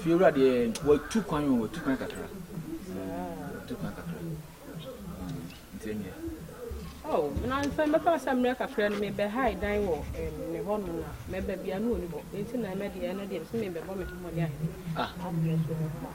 fiewura deɛ wɔtu kwan o wɔtu kwan kakra wɔtu kwan kakra nti ɛnyɛ Oh, na nfa mɛfa sɛ mmerɛ kakra no mebɛhae dan wɔ ne hɔ no na mɛba bia ne ɔni hɔ ɛnti na ɛmɛ deɛ ɛno deɛ sɛ mebɛbɔ me ho mmɔde ahene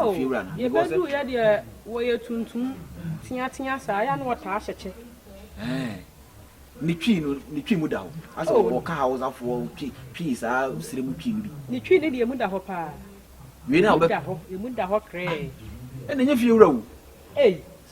Oh, yɛbɛduu yɛ deɛ wɔyɛ tuntum teatea saa, yɛ a na wɔtaa hyɛ kyɛ. Eh. ne twi no ne twi mu da hɔ asɛ oh. ɔka hawosafoɔ twi twi saa sire mu twi no bi ne twi ne deɛ mu da hɔ paa wei na ɔbɛ da hɔ emu da hɔ krɛɛ ɛna nyɛ fie wura o ei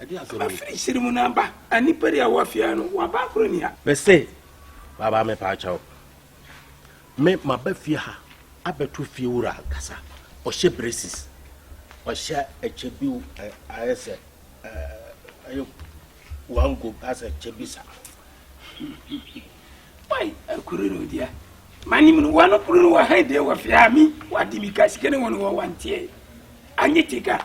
Aba firi hyere mu na aba. A nipa di a wɔ afia no waba akoro ni ha. Me se baba me pa akyɛw. Me ma ba fie ha abɛto fie wura ankasa. Ɔhyɛ braces. Ɔhyɛ ɛkyɛ bi ayɛ sɛ ɛyɛ one go asɛ ɛkyɛ bi sa. Wai akuru no dia. Manim no wano kuru no wɔ ha de wɔ fia mi wɔ de mi ka sika ne wɔn wɔ wanteɛ. Anyi tika.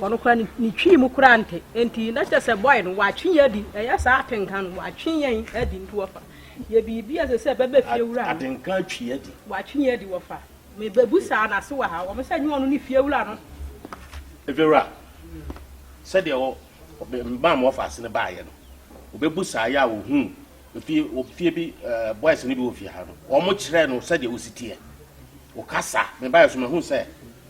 Ɔno koraa ne ne twi mu koraa nte nti na kyerɛ sɛ boy no watwe yɛn adi ɛyɛ saa atenka no watwe yɛn adi nti wɔfa yɛ biribi a ɛsɛ sɛ ɛbɛbɛ fie wura no Atenka atwi yɛn adi. watwe yɛn adi wɔfa mebebusaa no ase wɔ ha wɔn sɛ ɛnyɛ ɔno ne fie wura no. Efiewura, sɛdeɛ wɔ ɔbɛ mmaa ma wɔfa ase no baeɛ no ɔbɛbusaa yɛ a ɔhuu efie wɔ fie bi ɛɛ boys no bi wɔ fie ha no wɔn kyerɛɛ no sɛdeɛ wɔsi teɛ ɔkasa mebaeɛ nso mahunu sɛ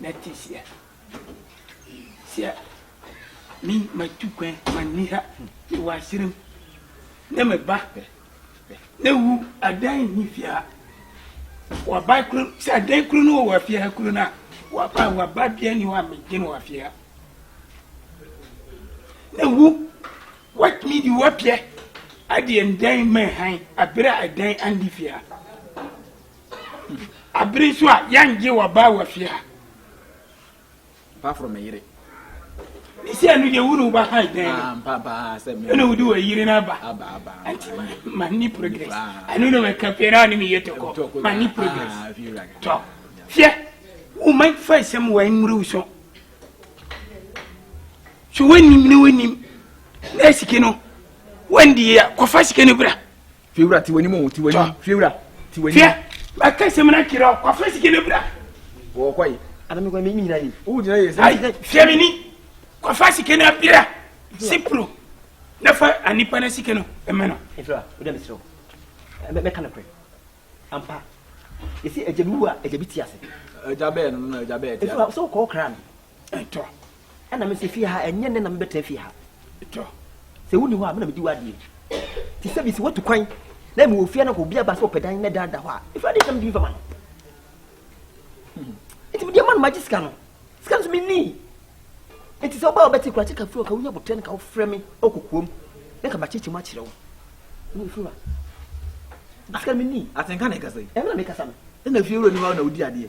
na te sia sia me matu kwan ma nni ha me wɔ aserem ne me ba ne wu adan nni fie ha wɔba kuro sɛ adan kuro no wɔ afie ha kuro no a wɔba wɔba bia ni hɔ a megye no wɔ afie ha na wu watumi de wapiɛ adeɛ ndan ma han abere a ɛdan andi fie ha Abiri nso a yɛngye wɔ baa wɔ fie ha. Paforo me yere. Ne sɛ ɛnu deɛ wunu ba ha dɛn. Ah, mpa paa sɛ me. Ɛna wodi wɔ yiri n'aba. Aba aba. Nti ma ni progress. Ɛnu na wɔ kapie na ɔne mi yɛ tɔkɔ. Ma ni progress. Ah, Tɔ. Fiyɛ. Wuma fa nsɛm wɔ nwuruw so. So wɔnim ne wɔnim. Na sike no wɔndi yɛ kɔfa sike no bra. fiewura ti w'anim o ti w'anim fiewura ti w'anim. fia maka sɛm na kyerɛ o wafa sika no bra. wɔ kɔ yi anam kɔ mi nyina yi. o gyina yi sɛ. ayi fia mi ni kɔfa sika no abira sipro na fa anipa na sika no ɛmɛ no. efira o dɛ mi srɛ o mɛ ka ne korɛ ampa yɛsi ɛgya bi wu a ɛgya bi ti ase. ɛgya bɛɛ no na ɛgya bɛɛ ti ase. efira sɛ o kɔ o kra no. ɛtɔ. Ɛna me se fie ha ɛnyɛ nnɛ na mebɛtena fie ha. Sɛ wonni hɔ a me na medi w'adeɛ. Te sɛ bi sɛ watu kwan na mewɔ fie na obi aba sɛ ɔpɛ dan na dan da hɔ a ɛfiri adeɛ sɛ mede mfa ma no. Hmm. Nti mede ama no magye sika no. Sika no so menni. Nti sɛ wobaa wobɛte kora kyeka firi ɔka wonya botrɛ no ka wofrɛ me ɔkɔkoam na ka makyekyem akyerɛ wo. Ne ɛfiri wa. Sika no menni. Atenka na ɛkasa yi. Ɛmena mekasa no. Ɛna fie wura ni hɔ na wodi adeɛ.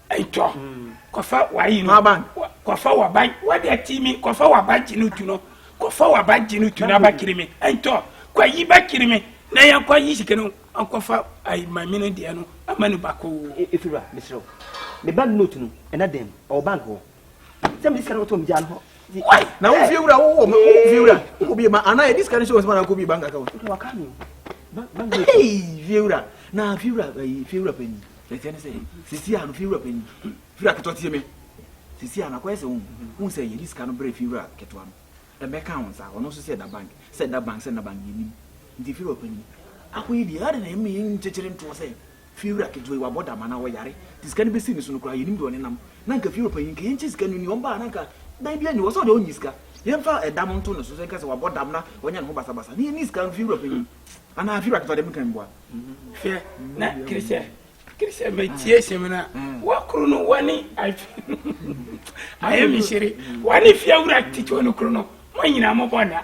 Itɔ kɔfa wari no kɔfa waba wadi ati mi kɔfa waba gye no tu no kɔfa waba gye no tu na ba kiri mi itɔ kɔ yi ba kiri mi na yɛn kɔ yi sika no akɔfa ayi maame no deɛ no ama no ba kɔ. efiri wa mesrɛ wo me ba note no ɛna dɛm ɔwɔ bank hɔ. sɛ mede sika no kɔtɔ megyaa no hɔ na wo fie wura wowɔ ma wo fie wura wokɔ bie ma anaa yɛde sika no hyɛ wɔ sɛ ma na wokɔ bie bank account fie wura na fie wura fie wura panyin ɛkyɛ ne sɛ sisi a no fie wura panyin fie wura ketewa tie me sisi a no akɔyɛ sɛ wohu sɛ yɛde sika no berɛ fie wura ketewa no ɛbɛka wo nsa ɔno nso sɛ ɛda bank sɛ ɛda bank sɛ ɛda bank yɛnim nti fie wura panyin akɔyɛ die ade na ɛmi nkyekyere ntoɔ sɛ Fiewura ketewa yi wabɔ dam anaa ɔyare nti sika no bɛsii ne so no koraa yɛnnim deɛ ɔnenam. Na anka Fiewura panyin nka yɛnkyɛ sika no nni hɔ, mbaa na anka dan biara nni hɔ sɛ ɔdeɛ ɔnyi sika. Yɛmfa dam nto ne so sɛ nka sɛ wabɔ dam na wanya ne ho basabasa na yɛnni sika no Fiewura panyin anaa Fiewura ketewa deɛ menka mboa. Hwɛ na Christian Christian bɛtie hyem na wakuru no wɔne ayɛ me hyere wɔne Fiewura ketewa no kuru no mo nyinaa mobɔ nna.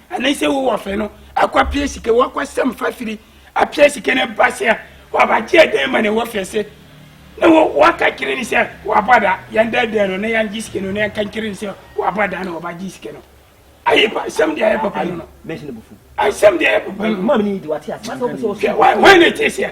ɛne sɛ wo wɔfɛ no akɔpia sika wakɔsɛm fafiri apia sika no ba sɛ wabagye ɛdɛn ma ne wɔfɛ se na waka kyerɛ ne sɛ wabɔ da yɛndɛdɛn no na yɛngye sika no na yɛnka nkyerɛ ne sɛ wabɔ da na wɔbagye sika no ayi pa asɛm deɛ ayɛ papa no no asɛm deɛ ayɛ papa no no hwɛ wɔn ne te seɛ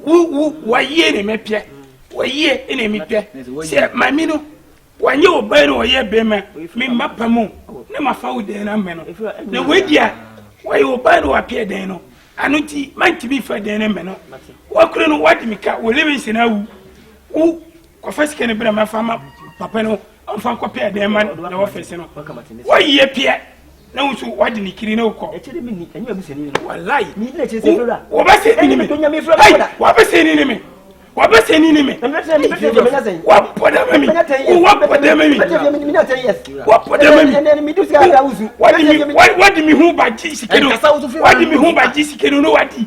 Wo wo wayie ne mepɛ wayie ne mepɛ sɛ maame no wanyɛ ɔbaa no ɔyɛ bɛrima me mma pa mu na mafa wo dɛn no mmɛ no na wadi a wayɛ ɔbaa no wapɛ dɛn no ano nti mantumi fa dɛn no mmɛ no wakura no wade me ka wo Livingston awu wo kɔfa sika no bra mafa ma papa no Ɔmfa nkɔ pɛɛ dɛn ma no na wɔfɛse no. Wɔyie peɛ na wo nso wade ne kiri na wokɔ. Walai. Wɔbɛsɛ ni ne me. Wɔbɛsɛ ni ne me. Wɔbɛsɛ ni ne me. Wɔbɔ dɛ ma mi. Wɔbɔ dɛ ma mi. Wɔbɔ dɛ ma mi. Wɔde mi ho ba gye sike no. Wɔde mi ho ba gye sike no na wadi.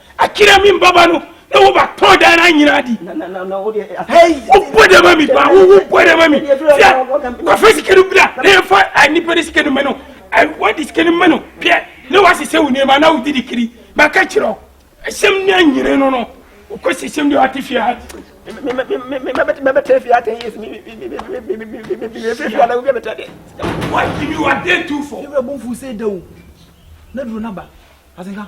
Akyire me mbaba no na wo ba tɔn dan na nyina adi. Wo bɔ dɛ ma mi ba wo wo bɔ dɛ ma mi. Tia wa fɛ sika no bira na yɛ fa a nipa ne sika no mɛ no. Wa di sika no mɛ no pɛ na wa sisɛ wo nneɛma na wo di di kiri. Ma ka kyerɛ wo ɛsɛm ne anyere no no wo kɔ si sɛm deɛ wate fie ha. Mɛbɛtɛ fie ha ten years mi fie ha na wo bi a bɛtɛ deɛ. Wa di mi wa den tu fɔ. Yɛ bɛ bɔ nfu sɛ da o na duro na ba asenka.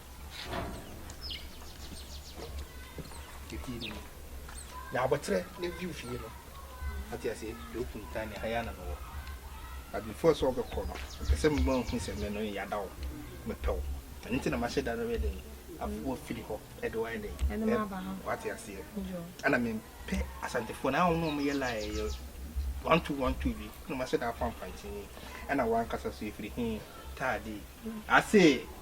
Eti ni. Na abotre ne view fie no. Ati ase de open tan ne haya na no wɔ. But before so obe kɔ no, mpɛ sɛ mma hu sɛ me no ya da wo. Mepɛ wo. Ɛno nti na mahyɛ da no bɛ den. Afo afiri hɔ ɛde wo ayɛ den. Ɛde ma aba ha. Wate aseɛ. Ana mempɛ asantefoɔ no a wɔn na wɔn yɛ lie yɛ one two one two bi. Ɛna mahyɛ da afa mpantin. Ɛna wɔn ankasa so efiri he taadi. Ase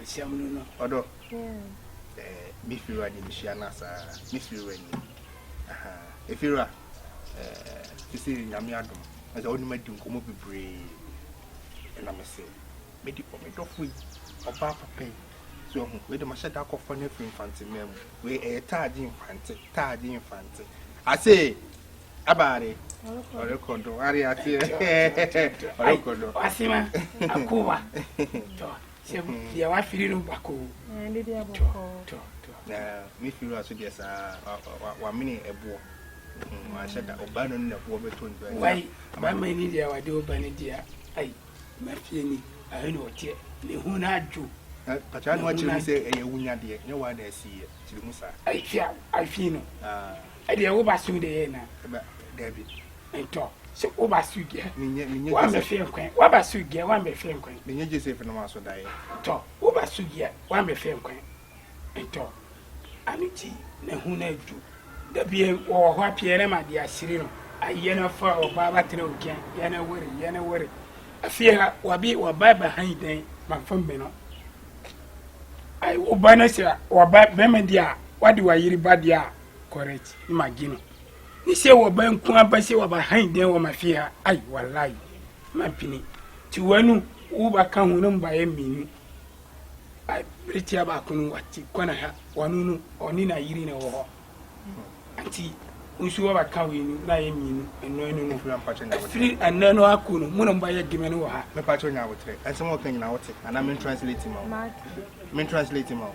Mehyia mo no no ɔdɔ eh, me firiwa de mehyia no asaa, me firiwa ni aha, me firiwa eh, sisi nyame adom, ɛsɛ wɔn ma di nkɔmɔ bebree, ɛna mese, me di ɔme dɔfo yi, ɔbaa papa yi, so ɛho, wei de ma hyɛ da akɔfa no afiri mfante mmaa mu, wei ɛyɛ taagye mfante, taagye mfante, ase, abaare, ɔrekɔ do, are aseɛ, ɔrekɔ do, ɔasema, akowa, tɔ, Sɛ mo deɛ wafiri no bakoo. Ɛɛ ne deɛ bɔkɔɔ. Tɔ tɔ. Na me firi wa so deɛ saa wamene ɛboɔ. Hmm, wanhyɛ da ɔba no ne ɛboɔ bɛtɔ ntua. Wai bɛma ni deɛ wade ɔba no deɛ ai mafie ni ahɛ na ɔteɛ ne ho no adwo. Patra no akyerɛ mu sɛ ɛyɛ wunya deɛ nyɛ wa na asiiɛ kyerɛ mu saa. Ahwia ahwii no. Ah. Ɛdeɛ wo ba so deɛ yɛ na. Ɛba dabi. Ntɔ, sɛ woba so gɛ, wa mɛ fɛ nkɔɛ, wa ba so gɛ, wa mɛ fɛ nkɔɛ. Menye Joseph no ma so dae. Tɔ, woba so gɛ, wa mɛ fɛ nkɔɛ. Ntɔ, ano ti na hu na du. Da bie wɔwɔ hɔ a Pierre ma de asiri no a yɛ na fa ɔbaa ba tena okɛn, yɛ na wore, yɛ na wore. Afie ha, wabi wɔba ba han dɛn ma fa mɛ no. Ai, woba na sɛ wɔba bɛma di a, wade wa yiri ba de a, correct, ne ma gi no. ne sɛ wɔba nko aba sɛ wɔba han dɛn wɔma fie ha ai walayi mampene nti wanu woba ka ho no mbaeɛ mmienu beretia baako no wate kwana ha wano no ɔne na yiri na ɛwɔ hɔ nti nso wɔba ka wei no na ayɛ mmienu ɛno ɛno no ɛfiri ɛnɛ no ako no mo na mba yɛ deme no wɔ ha mepa kyɛ ɔnya abotrɛ ɛnsɛm wɔka nyina wote anaa mentranslate ma wo mentranslate ma wo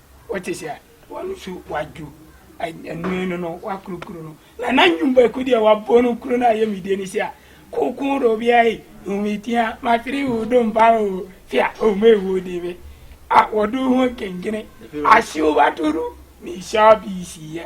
wɔte sɛ wɔn nso wɔadwo anwene no no wɔakoro kuro no na na nnwom baako deɛ wɔabɔ no kuro no a yɛ medie ne sɛ a koko do bia yi hometia matiri wo do mpa o fia ome wo de me a wɔdo ho nkengene ahyew batoro ne hyɛ bisiiɛ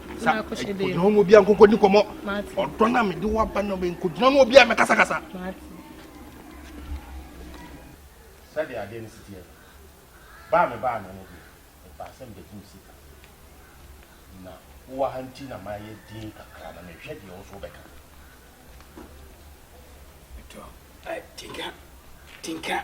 sa kogyina hɔ ma obi a nkɔnkɔ di nkɔmmɔ ɔdɔ no a mede wo aba no nkɔgyina hɔ ma obi a mɛkasakasa sɛdeɛ adeɛ no siteɛ baa me baa no no deɛ mepaa sɛ mede tom sika na wowɔ ha nti na mayɛ din kakra na mehwɛ deɛ wo so wobɛka tinka tinka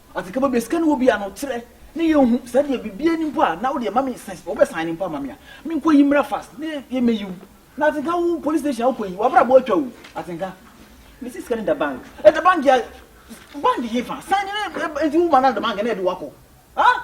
Afei kama bia sika no wɔ bia no kyerɛ ne yɛ nhu sɛ deɛ bibia ni mpo a na wodeɛ ma me sɛ wobɛ sign mpo ama me a me nkɔ yi mmra fast ne yɛ mɛyi wo na atenka wo police station a wokɔ yi wabrabɔ atwa wo atenka mesi sika no da bank ɛda bank a bank hefa sign ne ɛnti wo ma no da bank na ɛde wakɔ ah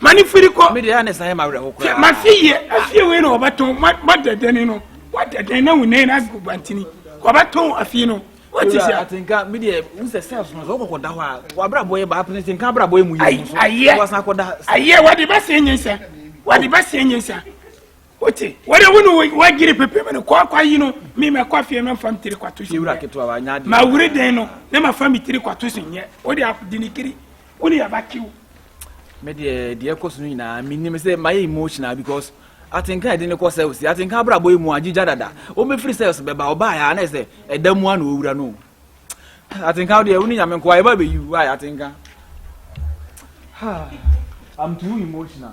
ma ne firi kɔ. mi de ya ne san yɛ ma awurɛ ho koraa. sɛ ma fi yie afie wei na ɔbɛtɔn ma ma dɛdɛni no wa dɛdɛn na wunɛ na agu bantini ɔbɛtɔn afie no o ti sɛ. atenka mi de n sɛ sɛs no sɛ ɔkɔkɔ da hɔ a wa abira bɔ yɛ ba apene tenka abira bɔ yɛ mu yɛ mu so wa san kɔ da. ayɛ wa de bɛ se nye nsa wa de bɛ se nye nsa. wote wɔde wo ne wagyere pepem no kɔakwa yi no me mɛkɔ afie mɛmfa me tiri kwato so mawure den no na mafa me tiri kwato so nyɛ wode de ne kiri wo ne yɛbɛkew me deɛ deɛ ɛkɔ so no nyinaa menim sɛ mayɛ emotional because atenka ɛde ne kɔ sɛlsi atenka abrabɔ yi mu agyigya dada wɔbɛfiri sɛls bɛba ɔbaayɛ a na ɛsɛ ɛda mu a na ɔwura no Atenka wo deɛ wo ne nyame nkoa yɛba bɛyi wo why atenka I'm too emotional